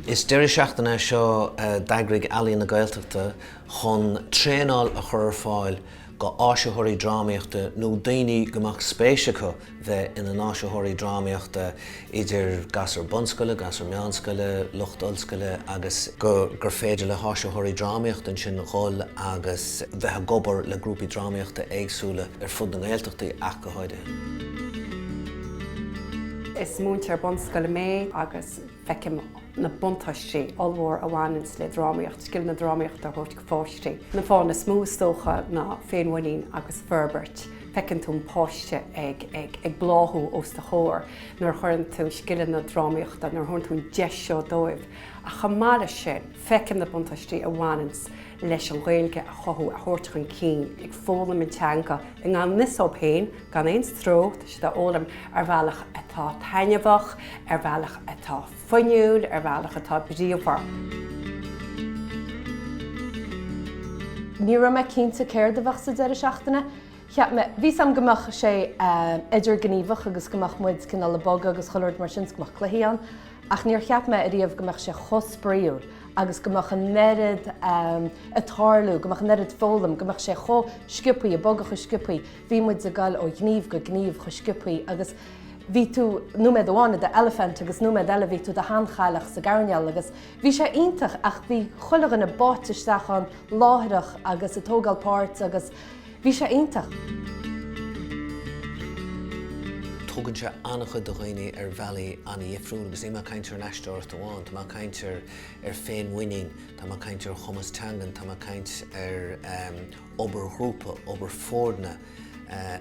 Is deireadh seachtaine é seo a d'eagraigh Ealaín na Gaeltachta chun traenáil a chur ar fáil go dh'áisitheoirí drámaíochta nó daoine go mbeadh spéis acu bheith ina n-áisitheoirí drámaíochta idir gasúir bunscoile, gasúir meánscoile, lucht ollscoile agus gur féidir le háisitheoirí drámaíochta ansin dhul agus bheith ag obair le grúpaí drámaíochta éagsúla ar fud na nGaeltachtaí ach go Is múinteoir bunscoile mé agus feicim na buntáistí ollmhór a bhaineanns le drámaíocht, scileanna drámaíochta a thabhairt do pháistí. Na fáthanna is mó is dócha ná féinmhuinín agus forbairt. Feiceann tú an páiste ag bláthú os do chomhair nuair a chuireann tú scileanna drámaíochta, nuair a thugann tú an deis seo dóibh ach chomh maith leis sin, Feicim na buntáistí a bhaineanns leis an Ghaeilge a chothú, a thabhairt chun cinn, ag foghlaim an teanga i ngan fhios dóibh féin, gan aon stró, tá siad á fhoghlaim ar bhealach atá taitneamhach, ar bhealach atá fuinniúil, ar bhealach atá bríomhar. Ní raibh mé cinnte céard a bheadh sa deireadh seachtaine. Cheap mé, bhí a fhios a'm go mbeadh sé idirghníomhach agus go mbeadh muid cineál ag bogadh agus chuile rud mar sin 's go mbeadh cluichí ann. ach níor cheap mé ariamh go mbeadh sé chomh spraíúil agus go mbeadh an oiread ag tarlú, go mbeadh an oiread foghlaim, go mbeadh sé chomh sciopaí, ag bogadh chomh sciopaí, bhí muid ag goil ó ghníomh go gníomh chomh sciopaí agus bhí tú, nóiméad amháin i do eilifint agus nóiméad eile bhí tú i do sheanchailleach sa gcoirnéal agus bhí sé iontach ach bhí chuile dhuine báite isteach ann láithreach agus ag tógáil páirt agus Bhí sé iontach! Tugann sé an-chuid do dhaoine ar bhealaí an-dhifriúil agus níl mé ag caint ar an aisteoireacht amháin, tá mé ag caint ar féinmhuinín, tá mé ag caint ar chumas teangan, tá mé ag caint ar obair ghrúpa, obair foirne,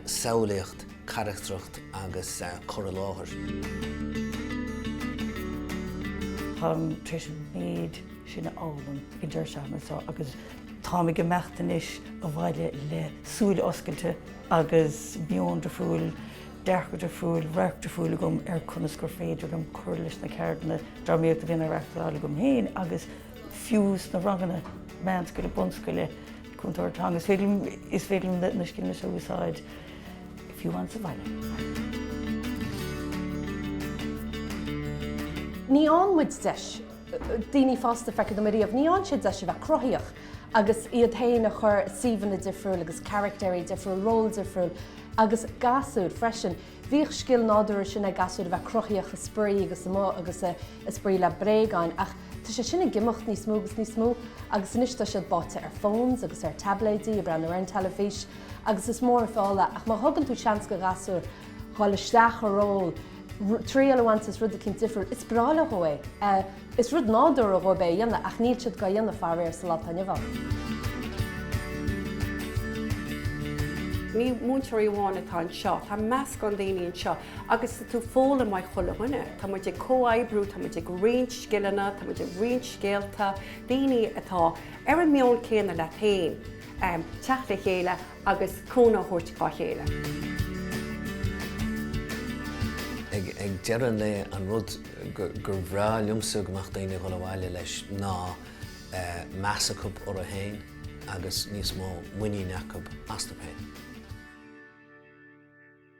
samhlaíocht, carachtracht agus cur i láthair. Táim tar éis an méid sin a fhoghlaim ag an deireadh seachtaine seo agus Táim ag imeacht anois abhaile le súile oscailte agus meon difriúil, dearcadh difriúil, radharc difriúil agam ar conas gur féidir liom cur leis na ceardlanna drámaíochta a bhíonn á reáchtáil agam féin agus fiú sna ranganna meánscoile, bunscoile, Cúntóir Teanga. Is féidir liom, is féidir liom na scileanna seo a úsáid fiú amháin sa bhaile. Ní fhaigheann muid deis. daoine fásta, feictear dom, ariamh. Ní fhaigheann siad deis a bheith cruthaíoch agus iad féin a chur i suíomhanna difriúil agus caraictéirí difriúil, ról difriúil agus gasúir freisin. Bhíodh an scil nádúrtha sin ag gasúir a bheith cruthaíoch ag spraoi agus amuigh agus ag spraoi le bréagáin ach tá sé sin ag imeacht níos mó agus níos mó agus anois tá siad báite ar phones agus ar taibléidí, ag breathnú ar an teilifís agus is mór an feall é ach má thugann tú seans go ghasúr dhul isteach i ról, triail a bhaint is rud eicínt difriúil. Is breá leo é. Is rud nádúrtha dhóibh é a dhéanamh ach níl siad gá dhéanamh faraor sa lá atá inniu ann. Ní múinteoirí amháin atá anseo, tá meascán daoine anseo agus tá tú foghlaim uaidh chuile dhuine. Tá muid ag comhoibriú, tá muid ag roinnt scileanna, tá muid ag roinnt scéalta, daoine atá ar an meon céanna leat féin, teacht le chéile, agus cúnamh a thabhairt dá chéile. Ag deireadh an lae, an rud gur bhreá liomsa go mbeadh daoine ag dhul abhaile leis ná meas acu orthu féin agus níos mó muiníne acu astu féin.